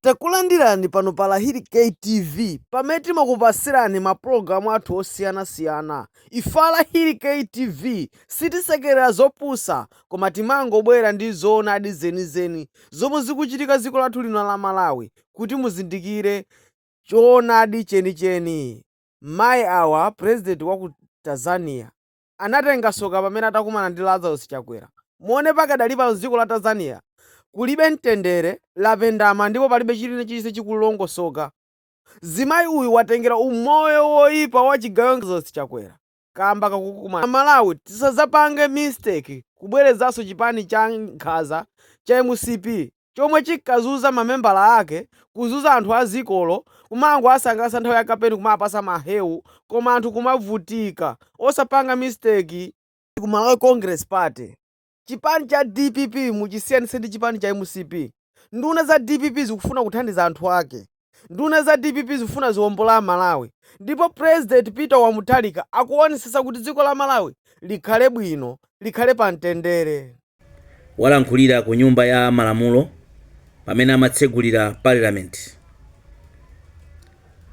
Takulandirani pano pa Lahiri K TV pamene timakupatsirani mapulogalamu athu osiyanasiyana. Ife a Lahiri K TV sitisekerera zopusa koma timangobwera ndi zoonadi zenizeni zomwe zikuchitika dziko lathu lino la Malawi kuti muzindikire choonadi chenicheni. Mayi awa president wa ku Tanzania. anatenga tsoka pamene atakumana ndi Lazarus Chakwera muone pakadali pano dziko la Tanzania kulibe mtendere lapendama ndipo palibe china chilichonse chikulongosoka mzimayi uyu watengera umoyo woipa wa chigawenga Lazarus Chakwera kamba kakukumana Amalawi tisadzapange mistake kubwerezanso chipani cha nkhaza cha mcp chomwe chinkazunza mamembala ake kuzunza anthu a dziko lo kumangowasangalatsa nthawi ya kampeni kumawapatsa ma hewu koma anthu kumavutika osapanga mistake ku malawi congress party chipani cha dpp muchisiyanitse ndi chipani cha mcp nduna za dpp zikufuna kuthandiza anthu ake Nduna za dpp zikufuna ziwombole a Malawi ndipo President Peter wa Mutharika akuwonetsetsa kuti dziko la Malawi likhale bwino, likhale pa mtendere. Walankhulira ku nyumba ya malamulo pamene amatsegulira Parliament.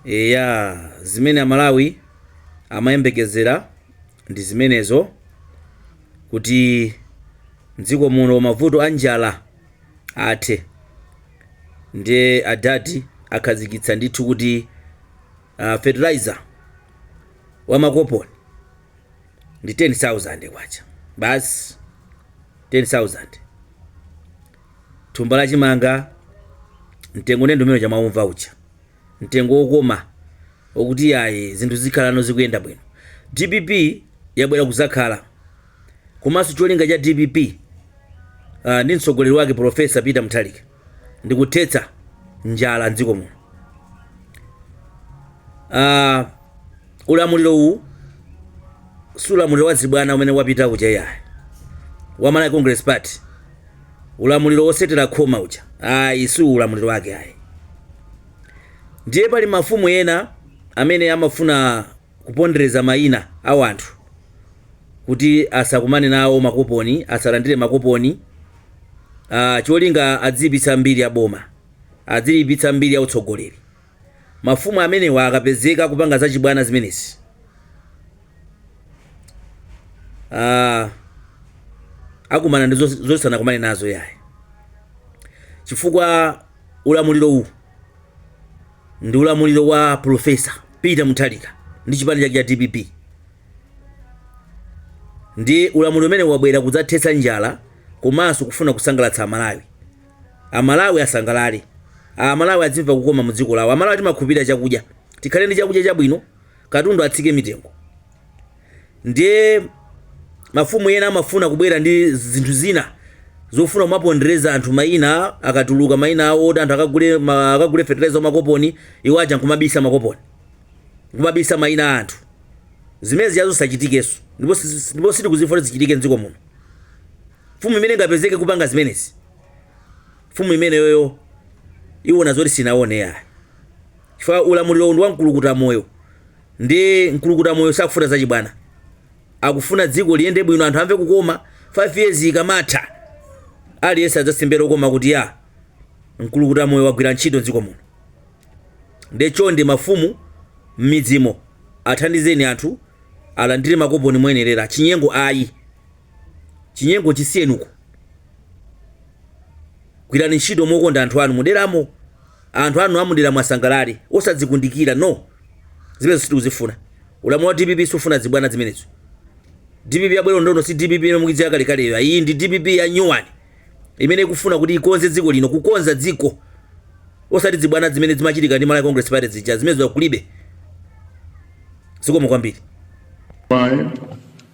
Eya, zimene a Malawi amayembekezera ndi zimenezo kuti m'dziko muno mavuto a njala, athe ndiye adadi akhazikitsa ndithu kuti uh, fertilizer wa makoponi ndi 10000 kwacha basi 10000 thumba la chimanga mtengo ndi umene mukumaumva uja mtengo wokoma wokuti iyayi zinthu zikhalano zikuyenda bwino dpp yabwera kuzakhala komanso cholinga cha dpp uh, ndi mtsogoleri wake Profesa Peter Mutharika ndi kuthetsa njala mdziko muno. Uh, ulamuliro uwu si ulamuliro wa zibwana umene wapita kuja yayi wa Malawi Congress Party, ulamuliro wotsetera khoma uja ayi, si ulamuliro wake ayi. Ndiye pali mafumu ena amene amafuna Kupondereza mayina a wanthu kuti asakumane nawo makoponi, asalandire makoponi, aah cholinga adziyipitsa mbiri ya boma, adziliipitsa mbiri ya utsogoleri. Mafumu amenewa akapezeka akupanga zachibwana zimenezi, aah akumana ndi zosanakumane nazo iyayi chifukwa Ulamuliro uwu ndi ulamuliro wa Prof. Peter Mutharika ndi chipani chake cha dpp. Ndi ulamuliro umene wabwera kudzathetsa njala komanso kufuna kusangalatsa Amalawi. Amalawi asangalale. Amalawi adzimva kukoma mu dziko lawo. Amalawi timakhulupirira chakudya. Tikhale ndi chakudya chabwino, katundu atsike mitengo. ndiye mafumu ena amafuna kubwera ndi zinthu zina zofuna kumapondereza anthu maina akatuluka maina awo woti anthu akagule ma- akagule fertilizer makoponi iwo aja nkumabisa makoponi nkumabisa maina a anthu zimenezi izo zisachitikenso ndipo si- ndipo sitikuzifuna zichitike mdziko muno mfumu imene ingapezeke kupanga zimenezi mfumu imeneyoyo iwona zoti sinaone yayi chifukwa ulamuliro uwu ndi wa mkulukuta moyo Nde mkulukuta moyo sakufuna zachibwana akufuna dziko liyende bwino anthu amve kukoma 5 years ikamatha aliyense adzasimbe lokoma kuti ya mkulukuta moyo wagwira ntchito mdziko muno nde chonde mafumu mmidzimo athandizeni anthu alandire makoponi moyenerera chinyengo ayi chinyengo chisiyenuko gwirani ntchito mokonda anthu anu muderamo Anthu anu amuderamo asangalale osadzikundikira no zimenezo sitikuzifuna ulamuliro wa dpp sufuna zibwana zimenezo dpp yabwera panopa si dpp imene munkaidziwa kalekaleyo ayi ndi dpp ya new one imene ikufuna kuti ikonze dziko lino kukonza dziko osati zibwana zimene zimachitika ndi malawi congress party zija zimenezo kulibe zikomo kwambiri Bye.